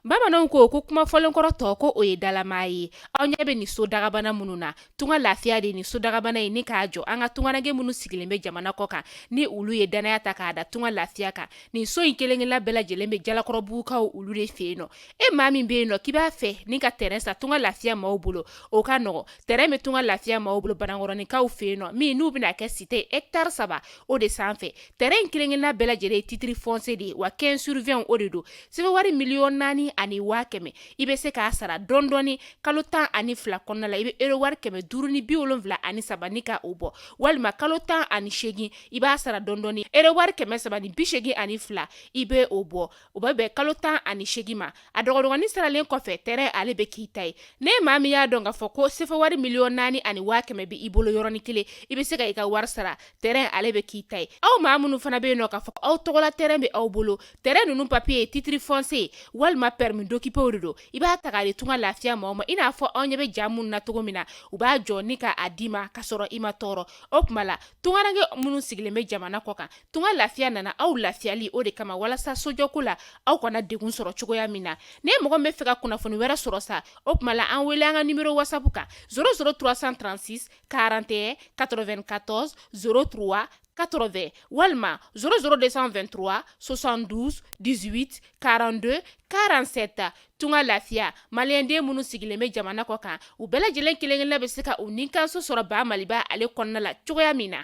bamananw ko ko kuma fɔlenkɔrɔ tɔ ko o ye dalama ye aw ɲɛ bɛ nin so dagabana minnu na tunga lafiya de ni so dagabana ye ni k'a jɔ an ka tungaranke minnu sigilen bɛ jamana kɔ kan ni olu ye dannaya ta k'a da tunga lafiya kan nin so in kelenkelenna bɛɛ lajɛlen bɛ jalakɔrɔbugukaw olu de fɛ yen nɔ e maa min bɛ yen nɔ k'i b'a fɛ ni ka tɛrɛn san tunga lafiya maaw bolo o ka nɔgɔ tɛrɛn bɛ tunga lafiya maaw bolo banankɔrɔninkaw fɛ yen nɔ min n'u bɛna kɛ site etari saba o de sanfɛ tɛrɛn in kelenkelenna bɛɛ lajɛlen ye titre foncier de ye wa quinze sur vingt o de don sefa wari miliyɔn naani ani waa kɛmɛ i bɛ se k'a sara dɔndɔɔni kalo tan ani fila kɔnɔna la i bɛ ero wari kɛmɛ duuru ni bi wolonwula ani saba ni k' o bɔ walima kalo tan ani segin i b'a sara dɔndɔɔni ero wari kɛmɛ saba ni bi segin ani fila i bɛ o bɔ o bɛ bɛn kalo tan ani segin ma a dɔgɔdɔgɔnin saralen kɔfɛ tɛrɛn ale bɛ k'i ta ye n'e maa min y'a dɔn k'a fɔ ko sefa wari miliyɔn naani ani waa kɛmɛ bɛ i bolo yɔrɔnin kelen i bɛ se ka i ka wari sara tɛrɛn ale bɛ k'i ta ye aw maa minnu fana bɛ yen nɔ k'a fɔ aw tɔgɔla tɛrɛn bɛ aw bolo tɛrɛn ninnu papiye ye titre foncier walima permis d'occuper de don i b'a ta k'a di tunga lafiya maaw ma i n'a fɔ aw ɲɛ bɛ ja minnu na cogo min na u b'a jɔ ni k'a d'i ma ka sɔrɔ i ma tɔɔrɔ o tuma la tungaranke minnu sigilen bɛ jamana kɔ kan Tunga lafiya nana aw lafiyali o de kama walasa sojɔko la aw kana degun sɔrɔ cogoya min na ni mɔgɔ min bɛ fɛ ka kunnafoni wɛrɛ sɔrɔ sa o tuma la an wele an ka nimero wasapu kan zéro zéro trois cent trente-six quarante et un quatre-vingt-quatorze zéro trois quatre-vingts walima zéro zéro deux cent vingt-trois soixante-douze dix-huit quarante-deux quarante-sept tunga lafiya maliyɛn den minnu sigilen bɛ jamana kɔ kan u bɛɛ lajɛlen kelenkelenna bɛ se ka u ni kanso sɔrɔ ba maliba ale kɔnɔna la cogoya min na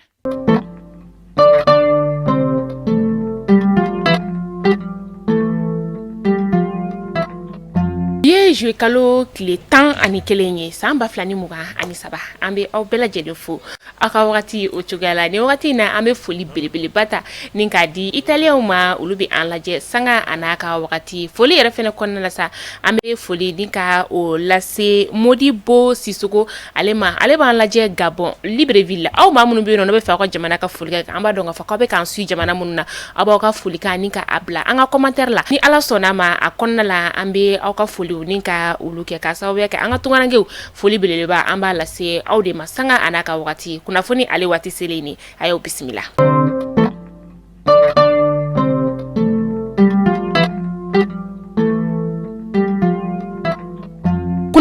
Bi ye juillet kalo tile 11 ye san 2023 an bɛ aw bɛɛ lajɛlen fo aw ka wagati o cogoya la ni wagati in na an bɛ foli belebeleba ta ni k'a di italienw ma olu bɛ an lajɛ sanga a n'a ka wagati foli yɛrɛ fɛnɛ kɔnɔna la sa an bɛ foli ni ka o lase Modibo Sisoko ale ma ale b'an lajɛ Gabon Libreville la aw maa minnu bɛ yen nɔ n'e bɛ fɛ aw ka jamana ka foli ka kɛ an b'a dɔn k'a fɔ k'aw bɛ k'an suivi jamana minnu na aw b'aw ka folikan ni k'a bila an ka commentaire la ni ala sɔnna a ma a kɔnɔna la an bɛ aw ka foliw ni ka olu kɛ k'a sababuya kɛ an ka tungarankew foli belebeleba an b'a lase aw de ma sanga a n'a ka wagati kunnafoni ale waati selen nin a y'aw bisimila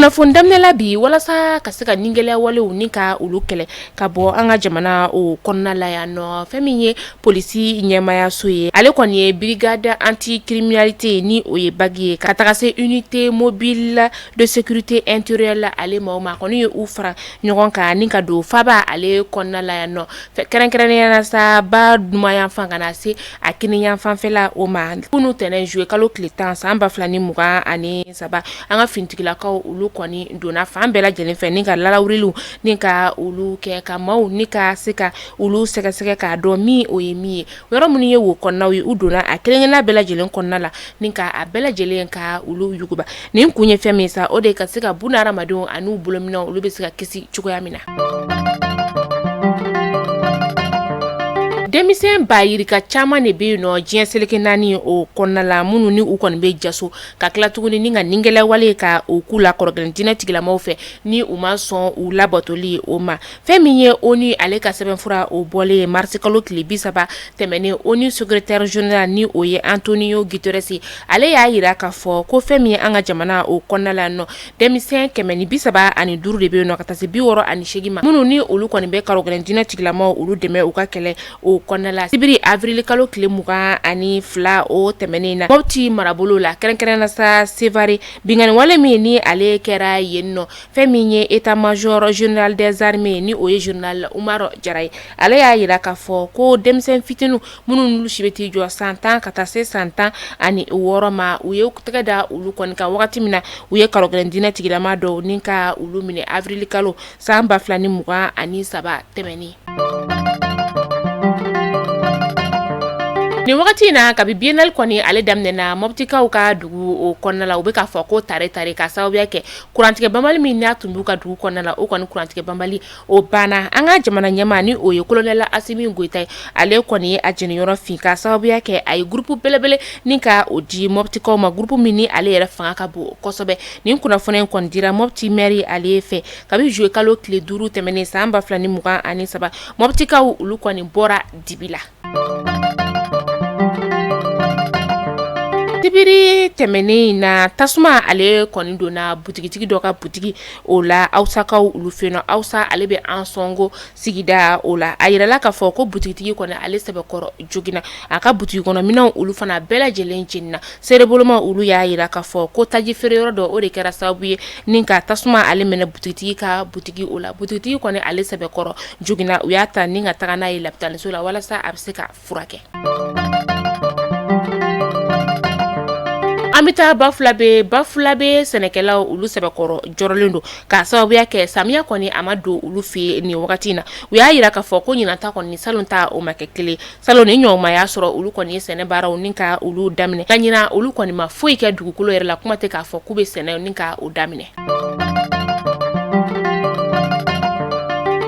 kunnafoni daminɛla bi walasa ka se ka nigɛlɛya walew ni ka olu kɛlɛ ka bɔ an ka jamana o kɔnɔna la yan nɔ fɛn min ye polisi ɲɛmayaso ye ale kɔni ye brigade anti-criminalité ni o ye BAC ye ka taga se unité mobile de sécurité intérieure la ale maaw ma kɔni ye u fara ɲɔgɔn kan ni ka don faba ale kɔnɔna la yan nɔ kɛrɛnkɛrɛnnenya na sa ba numanyanfan ka na se a kininyanfanfɛla o ma kunun tɛmɛnen in zuluye kalo tile tan san ba fila ni mugan ani saba an ka finitigilakaw olu kɔni donna fan bɛɛ lajɛlen fɛ ni ka lalawuriliw ni ka olu kɛ ka maaw ni ka se ka olu sɛgɛsɛgɛ k'a dɔn min o ye min ye Yɔrɔ minnu ye wo kɔnɔnaw ye u donna a kelenkelenna bɛɛ lajɛlen kɔnɔna la ni ka a bɛɛ lajɛlen ka olu yuguba nin kun ye fɛn min sa o de ka se ka bon hadamadenw ani u bolominɛnw olu bɛ se ka kisi cogoya min na denmisɛn ba yirika caman de bɛ yen nɔ diɲɛ seleke naani o kɔnɔna la minnu ni u kɔni bɛ jaso ka tila tuguni ni ka ningɛlɛyawale ka o k'u la karogɛlɛn diinɛ tigilamaw fɛ ni u ma sɔn u labatoli o ma fɛn min ye ONU ale ka sɛbɛnfura o bɔlen ye marisi kalo tile bi saba tɛmɛnen ONU secrétaire général ni o ye Antonio Guterres ale y'a yira k'a fɔ ko fɛn min ye an ka jamana o kɔnɔna la nɔ denmisɛn kɛmɛ ni bi saba ani duuru de bɛ yen nɔ ka taa se bi wɔɔrɔ ani seegin ma minnu ni olu kɔni bɛ karogɛlɛn diinɛ tigilamaw olu dɛmɛ u ka kɛlɛ o kɔnɔna la sibiri awirili kalo tile mugan ani fila o tɛmɛnen na mɔbiti marabolo la kɛrɛnkɛrɛnna sa Sevare binkanni wale min ni ale kɛra yen nɔ fɛn min ye état-major général des armées ye ni o ye général Umaru Jara ye ale y'a yira k'a fɔ ko denmisɛn fitinin minnu n'olu si bɛ t'i jɔ san tan ka taa se san tan ani wɔɔrɔ ma u ye tɛgɛ da olu kɔni kan wagati min na u ye karogɛlɛn diinɛ tigilama dɔw ni ka olu minɛ awirili kalo san ba fila ni mugan ani saba tɛmɛnen nin wagati in na kabi biennale kɔni ale daminɛna mɔbitikaw ka dugu o kɔnɔna la u bɛ k'a fɔ ko tare tare k'a sababuya kɛ kurantigɛ banbali min n'a tun b'u ka dugu kɔnɔna la o kɔni kurantigɛ banbali o banna an ka jamana ɲɛmaa ni o ye kolonɛli Asimi Goyita ye ale kɔni ye a jeniyɔrɔ fin ka sababuya kɛ a ye groupe belebele ni ka o di mɔbitikaw ma groupe min ni ale yɛrɛ fanga ka bon kosɛbɛ nin kunnafoni in kɔni dira mɔbiti mɛri ale fɛ kabi zuluye kalo tile duuru tɛmɛnen san ba fila ni mugan ani saba mɔbitikaw olu kɔni bɔra dibi la Sibiri tɛmɛnen in na tasuma ale kɔni donna butigitigi dɔ ka butigi o la awsakaw olu fɛ yen nɔ awsa ale bɛ Ansongo sigida o la a yirala k'a fɔ ko butigitigi kɔni ale sɛbɛkɔrɔ joginna a ka butigikɔnɔminɛnw olu fana bɛɛ lajɛlen jenina Seerebolomaw olu y'a yira k'a fɔ ko taji feereyɔrɔ dɔ o de kɛra sababu ye ni ka tasuma ale minɛ butigitigi ka butigi o la butigitigi kɔni ale sɛbɛkɔrɔ joginna u y'a ta ni ka taga n'a ye lapitaliso la walasa a bɛ se ka furakɛ an bɛ taa Bafulabe Bafulabe sɛnɛkɛlaw olu sɛbɛkɔrɔ jɔrɔlen don ka sababuya kɛ samiya kɔni a ma don olu fɛ yen nin wagati in na u y'a yira k'a fɔ ko ɲinan ta kɔni ni salon ta o ma kɛ kelen Salon ni ɲɔgɔn ma y'a sɔrɔ olu kɔni ye sɛnɛ baaraw ni ka olu daminɛ ka ɲinan olu kɔni ma foyi kɛ dugukolo yɛrɛ la kuma tɛ k'a fɔ k'u bɛ sɛnɛ ni ka o daminɛ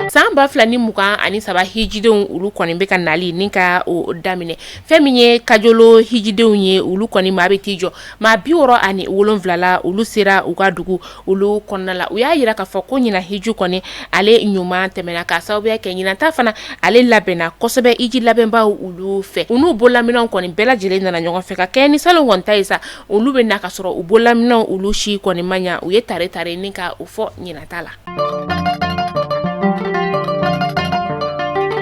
san ba fila ni mugan ani saba hijidenw olu kɔni bɛ ka nali ni ka o daminɛ fɛn min ye Kajolo hijidenw ye olu kɔni maa bɛ t'i jɔ maa bi wɔɔrɔ ani wolonwula la olu sera u ka dugu olu kɔnɔna la u y'a jira k'a fɔ ko ɲinan hiju kɔni ale ɲuman tɛmɛna k'a sababuya kɛ ɲinan ta fana ale labɛnna kosɛbɛ hiji labɛnbaw olu fɛ u n'u bolola minanw kɔni bɛɛ lajɛlen nana ɲɔgɔn fɛ ka kɛ ni salon kɔni ta ye sa olu bɛ na ka sɔrɔ u bolola minanw olu si kɔni ma ɲa u ye tare tare ni ka o fɔ ɲinan ta la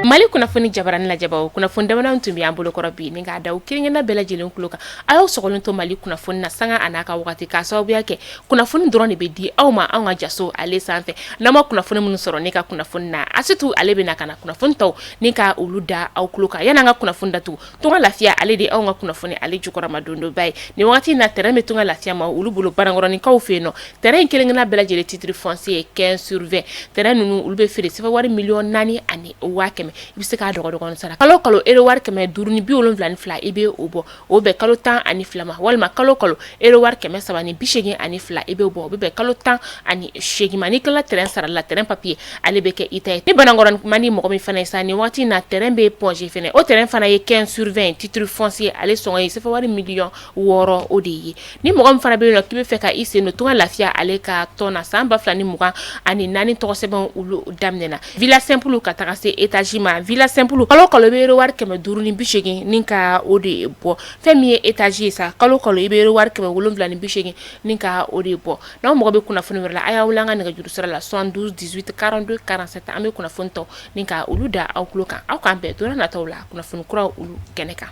mali kunnafoni jabarani lajɛbaw kunnafoni damadɔ tun bɛ an bolo kɔrɔ bi ni k'a da aw kelenkelenna bɛɛ lajɛlen kulo kan a y'aw sogolen to mali kunnafoni na sanga n'a ka waati k'a sababuya kɛ kunnafoni dɔrɔn de bɛ di aw ma anw ka jaso ale sanfɛ n'aw ma kunnafoni minnu sɔrɔ ne ka kunnafoni na Asetu ale bɛ na ka na kunnafoni tɔw ni ka olu da aw tulo kan yan'an ka kunnafoni datugu Tunga Lafiya ale de anw ka kunnafoni ale jukɔrɔma dondonba ye nin waati na terrain bɛ Tunga Lafiya maa olu bolo Banankɔrɔkaw fɛ yen nɔ terrain in kelenkelenna bɛɛ lajɛlen titre foncier quinze sur vingt terrain ninnu olu bɛ feere sɛfa wari miliyɔn naani ani waa kɛmɛ i bɛ se k'a dɔgɔdɔgɔnin sara kalo kalo ero wari kɛmɛ duuru ni bi wolonwula ani fila i bɛ o bɔ o bɛ bɛn kalo tan ani fila ma walima kalo kalo ero wari kɛmɛ saba ni bi segin ani fila i bɛ o bɔ o bɛ bɛn kalo tan ani segin ma ni i tilala terrain sarali la terrain papiye ale bɛ kɛ i ta ye ni Banankɔrɔ man di mɔgɔ min fana ye sa nin waati na terrain bɛ Point G fana o terrain fana ye quinze sur vingt ye titre foncier ale sɔngɔ ye sɛfa wari miliyɔn wɔɔrɔ o de ye Ni mɔgɔ min fana bɛ yen nɔ k'i bɛ fɛ ka i sen don Tunga Lafiya ale ka tɔn na san ba fila ni mugan ani naani tɔgɔ sɛbɛn olu daminɛna villa simple ka taga se etage ma villa simple kalo o kalo i bɛ ero wari kɛmɛ duuru ni bi seegin ni ka o de bɔ fɛn min ye etage ye sa kalo o kalo i bɛ ero wari kɛmɛ wolonwula ni bi seegin ni ka o de bɔ n'aw mago bɛ kunnafoni wɛrɛ la a y'a wele an ka nɛgɛjuru sira la 72 18 42 47 an bɛ kunnafoni tɔw ni ka olu da aw tulo kan aw k'an bɛn don nataw la kunnafoni kuraw olu kɛnɛ kan.